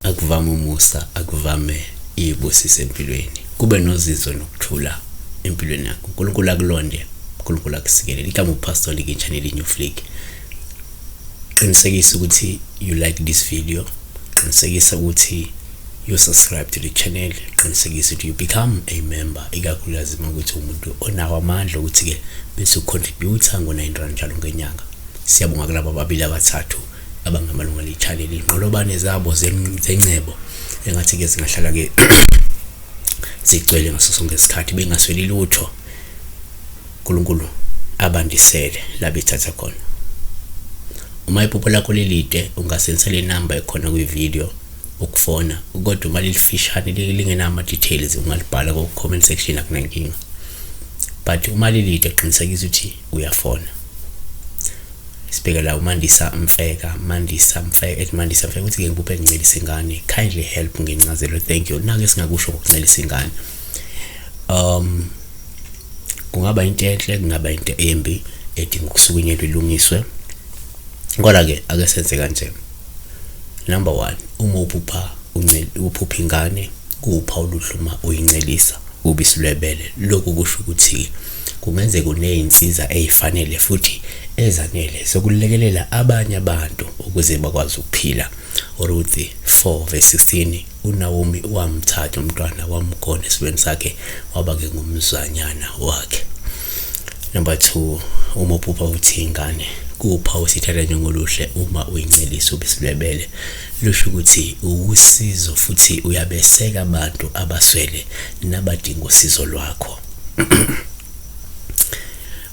akuvame umusa akuvame iyibusise empilweni kube nozizo nokuthula empilweni yakho unkulunkulu akulonde unkulunkulu akusikelele igama upastor likintshaneli new flick qinisekisa ukuthi you like this video qinisekisa ukuthi you subscribe to the channel qinisekisa ukuthi you become a member ikakhulukazi uma ukuthi umuntu onawo amandla ukuthi-ke bese ucontributa ngo-nine rand njalo ngenyanga siyabonga kulaba babili abathathu abangamalunga lechannel inqolobane zabo zencebo engathi-ke zingahlala-ke zigcwele ngaso sonke isikhathi bengasweli lutho unkulunkulu abandisele la bethatha khona uma iphupho lakho lelide ungasensela inamba ekhona kwividiyo ukufona kodwa uma lilifishane lingenawo ama-details ungalibhala ko-comment section akunankinga but uma lilide qinisekisa ukuthi uyafona sibheke la umandisa mfeka mandisa mfeka ethi mandisa mfeka ukuthi-ke ngibuphe ngincelisa ingane kindly help ngencazelo thank you nake singakusho ngokuncelisa ingane um kungaba into enhle kungaba into embi edinga ukusukunyelwa ilungiswe kodwa-ke ake senze kanjena Number one, uma uphupha uphupha ingane kuwupha oluhluma uyincelisa ubisi lwebele. Lokhu kusho ukuthi kungenzeka unezinsiza ezifanele futhi ezanele sokulekelela abanye abantu ukuze bakwazi ukuphila. Uruthi 4 verse 16 UNawomi wamthatha umntwana wamgona esibeni sakhe waba-ke ngumzanyana wakhe. Number two, uma uphupha uthi ingane kupha usithatha njengoluhle uma uyincelisa ubisilwebele lusho ukuthi uwusizo futhi uyabeseka abantu abaswele nabadinga usizo lwakho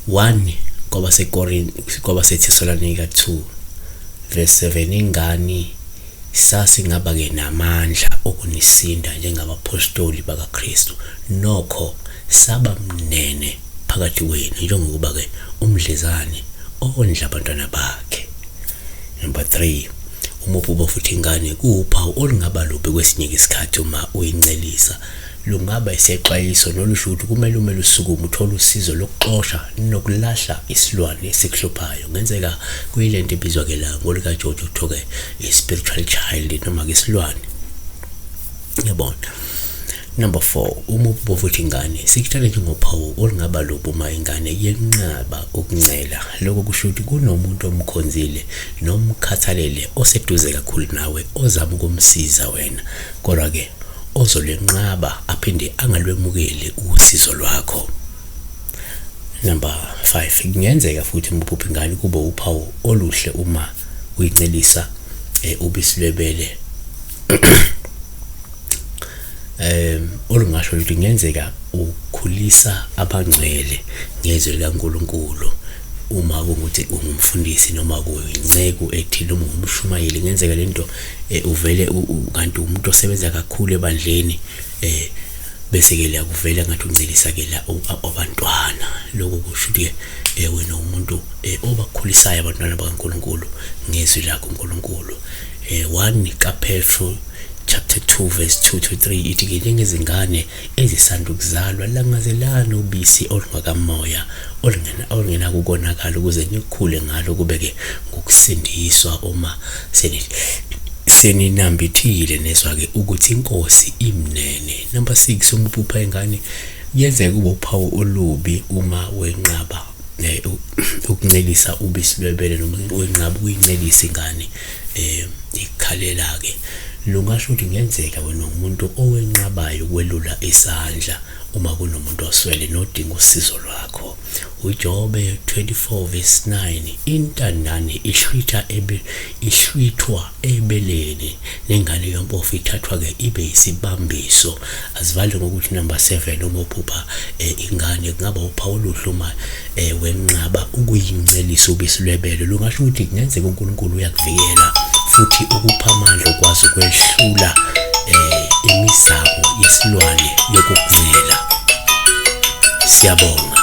1 kwabasekorinti kwabasethisolane ka-2 verse 7 ingani Sasingaba-ke namandla okunisinda njengabaphostoli bakaKristu, nokho saba mnene phakathi kwenu njengokuba-ke umdlezane ondla abantwana bakhe. Number 3, Umubhubo futhi ingane kuwuphawu olungaba lubi kwesinye-ke isikhathi uma uyincelisa. Lungaba isexwayiso nolu sho ukuthi kumele ume lusukume uthole usizo lokuxosha nokulahla isilwane esikuhluphayo. Ngenzeka kuyile nto ibizwa ke la ngolikaJojo kuthiwe i-spiritual child noma ke isilwane. Yabona. Number four, uma ububovu uthi ingane, sikuthathe njengophawu olungaba lubi uma ingane yenqaba ukuncela. Lokho kusho ukuthi kunomuntu omkhonzile nomkhathalele oseduze kakhulu nawe ozama ukumsiza wena. Kodwa-ke ozolwenqaba aphinde angalwemukeli usizo lwakho. Number 5, kungenzeka futhi uma uphupha ingane kube uphawu oluhle uma uyincelisa eh, ubisi lwebele um olungasho ukuthi kungenzeka ukhulisa abangcwele ngezwi likaNkulunkulu uma kungukuthi ungumfundisi noma kuyinceku ethile uma ungumshumayeli kungenzeka lento eh, uvele kanti umuntu osebenza kakhulu ebandleni eh bese ke liyakuvela ngathi uncelisa ke la abantwana lokho kusho ukuthi ke eh, wena umuntu eh, obakhulisayo abantwana bakaNkuluNkulu ngezwi lakho uNkuluNkulu eh 1 kaPetru chapter 2 verse 2 to 3 ithi ke njengezingane ezisanda ukuzalwa langazelani ubisi olungakamoya olungenakukonakala ukuze nikhule ngalo kube-ke ngokusindiswa uma seninambithile nezwa-ke ukuthi inkosi imnene number 6 uma uphupha ingane yenzeka kube uphawu olubi uma wenqaba eh, ukuncelisa ubisi lwebele noma wenqaba ukuyincelisa ingane Eh, ikhalela-ke. Lungasho ukuthi kungenzeka wena umuntu owenqabayo ukwelula isandla uma kunomuntu oswele nodinga usizo lwakho. UJobe 24 verse 9 intandane ihlwitha ebe ihlwithwa ebeleni nengane yompofu ithathwa ke ibe isibambiso azivale ngokuthi number 7 uma uphupha eh, ingane kungaba uphawu oluhle uma eh wenqaba ukuyincelisa ubisi lwebele lungasho ukuthi kungenzeka uNkulunkulu uyakuvikela futhi ukupha amandla okwazi ukwehlula eh imizamo yesilwane yokukuvikela siyabonga